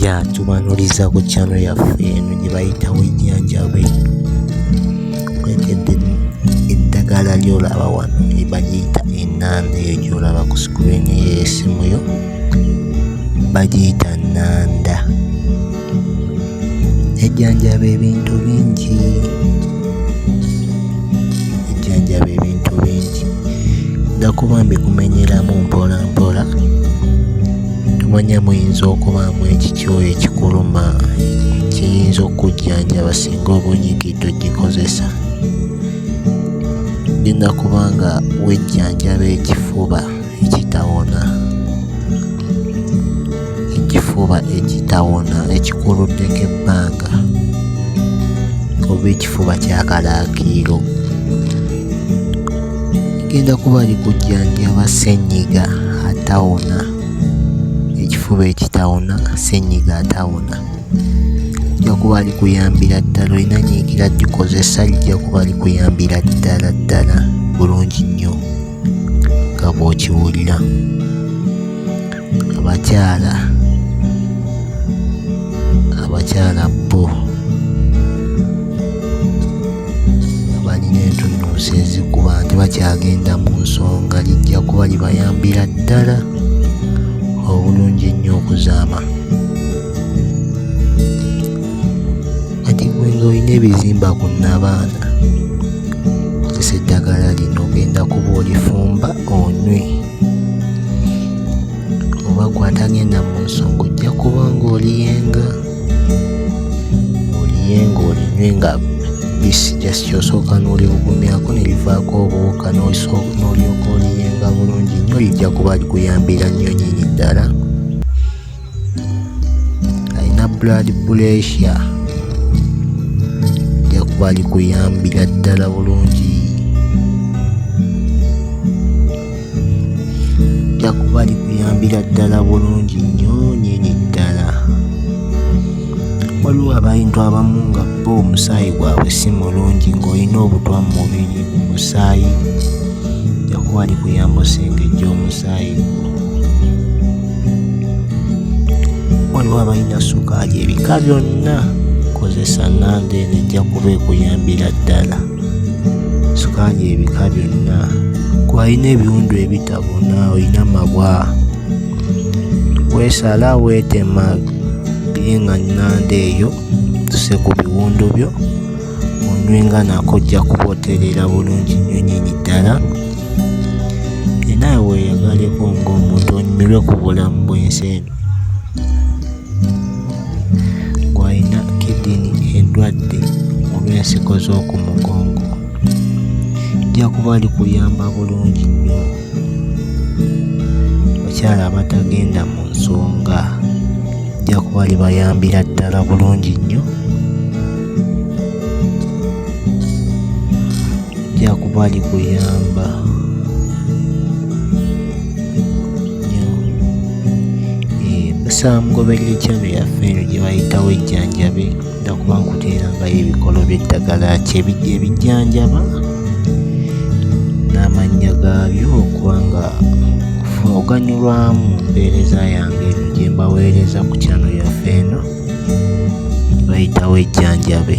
ya tubanuliza ku channel yaffe eno gye bayitawo enyanjabe kwegedde eddagala lyolaba wano bagiyita enanda eyo gyolaba ku screen yesimu yo bagiyita nanda ejjanjaba ebintu bingi ejjanjaba ebintu bingi nga kuba mbikumenyeramu mpola mpola tumanya muyinza okubaamu ekikyoyo ekikuluma kiyinza okujjanjaba singa obunyigi togikozesa genda kubanga wejjanjaba ekifuba ekitawona ekifuba ekitawona ekikuluddeko ebbanga oba ekifuba kyakalaakiiro genda kuba ali kujjanjaba ssenyiga atawona ekifuba ekitawona ssenyiga atawona ojja kuba ali kuyambira ddala olina nyiikira gikozesa lijja kuba likuyambira ddala ddala bulungi nnyo nga bw'okiwulira abakyala abakyala bo balina entunnunsi ezikuba nti bakyagenda mu nsonga lijja kuba libayambira ddala obulungi ennyo okuzaama kati gwe ng'olina ebizimba ku nabaana kozesa eddagala lino ogenda kuba olifumba onywe oba gwatagenda mu nsonga ojja kuba ng'oliyenga oliyenga olinywe nga bisi just osooka n'oliwugumyako ne livaako obuwuka n'olyoka oliyenga bulungi nnyo lijja kuba likuyambira nnyo nyini ddala alina blood pressure ajja kuba ali kuyambira ddala bulungi ajja kuba ali kuyambira ddala bulungi nnyo nyini ddala waliwo abantu abamu nga bo omusaayi gwabwe si mulungi ng'olina obutwa mu mubiri mu musaayi jakuba ali kuyamba osengejja omusaayi gwo waliwo abalina sukaali ebika byonna kozesa namba eno ejja kuba ekuyambira ddala sukaali ebika byonna gwalina ebiwundu ebitabona olina mabwa weesala weetema bye nga nanda eyo tuse ku biwundu byo onywe nga nako ojja kuboterera bulungi nnyonyini ddala enaawe weeyagaleko ng'omuntu onyumirwe ku bulamu bw'ensi eno gw'alina kidini endwadde olw'ensigo z'oku mugongo ajja kuba ali kuyamba bulungi nnyo abakyala abatagenda mu nsonga ajja kuba ali bayambira ddala bulungi nnyo jakuba ali kuyamba samugoberera ekyalo yaffe eno gye bayitawo ejjanjabe nga kuba nkuteerangayo ebikolo by'eddagala kyebijja ebijjanjaba n'amannya gaabyo okuba nga oganyulwamu mpeereza yange eno gye mbaweereza ku kyalo yaffe eno bayitawo ejjanjabe